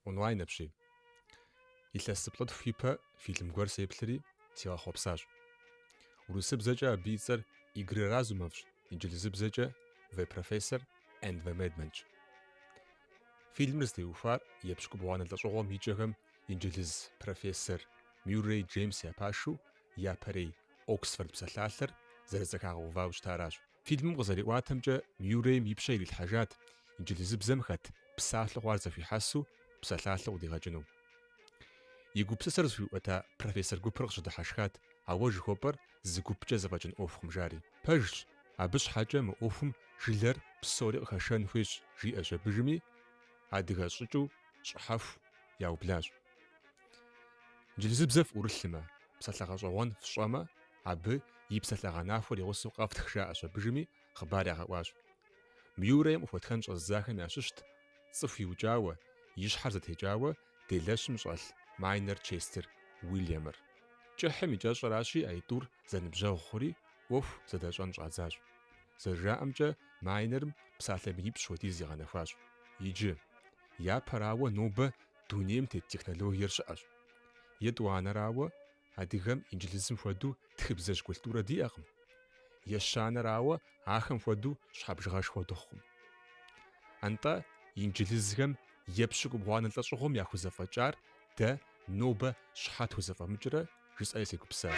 Онлайн апщий. Илъэс зыплӏытху ипэ фильм гуэр сеплъри, сигъэхъуэпсащ. Урысыбзэкӏэ абы и цӏэр Игры разумовщ, инджылызыбзэкӏэ The Professor and the Madmanщ. Фильмыр зытеухуар епщыкӏубгъуанэ лӏэщӏыгъуэм и кӏэхэм инджылыз профессор Мюррей Джеймс я пашэу япэрей Оксфорд псалъалъэр зэрызэхагъэувауэ щытаращ. Фильмым къызэриӏуатэмкӏэ, Мюррейм и пщэ ирилъхьэжат инджылызыбзэм хэт псалъэ хъуар зэхуихьэсу псалъалъэу къыдигъэкӏыну. И гупсысэр зыхуиӏуэта профессор гупыр къыщыдыхьэшхат, ауэ жыхуэпӏэр зы гупкӏэ зэфӏэкӏын ӏуэхукъым, жари. Пэжщ, абы щхьэкӏэ мы ӏуэхум жылэр псори къыхэшэн хуейщ, жиӏэщ абыжми, адыгэ щӏыкӏэу щӏыхьэху яублащ. Инджылызыбзэ фӏурылъмэ, псалъэ гъэщӏэгъуэн фщӏэмэ, Абы и псалъэгъэнахуэр и гъусэу къэфтх жаӏэщ абыжми хъыбар ягъэӏуащ. Мюррейм къыхуэтхэн щӏэзыдзахэм ящыщт цӏыху иукӏауэ, и щхьэр зэтекӏауэ делэщым щӏэлъ Майнер Честер Уильямыр. Кӏыхьым и кӏэщӏэращи аитӏур зэныбжьэгъу хъури ӏуэху зэдэщӏэн щӏадзащ. Зэрыжаӏэмкӏэ, Майнерым псалъэ минипщӏ хуэдиз игъэнэхуащ. Иджы, япэрауэ, нобэ дунейм тет технологиер щыӏэщ. Етӏуанэрауэ, Адыгэм инджылызым хуэдэу тхыбзэжь культурэ диӏэкъым. Ещанэрауэ, ахэм хуэдэу щхьэ бжыгъэшхуэ дыхъукъым. Антӏэ инджылызхэм епщыкӏубгъуанэ лӏэщӏыгъуэм яхузэфӏэкӏар дэ нобэ щхьэ тхузэфӏэмыкӏрэ жысӏэри сегупсысащ.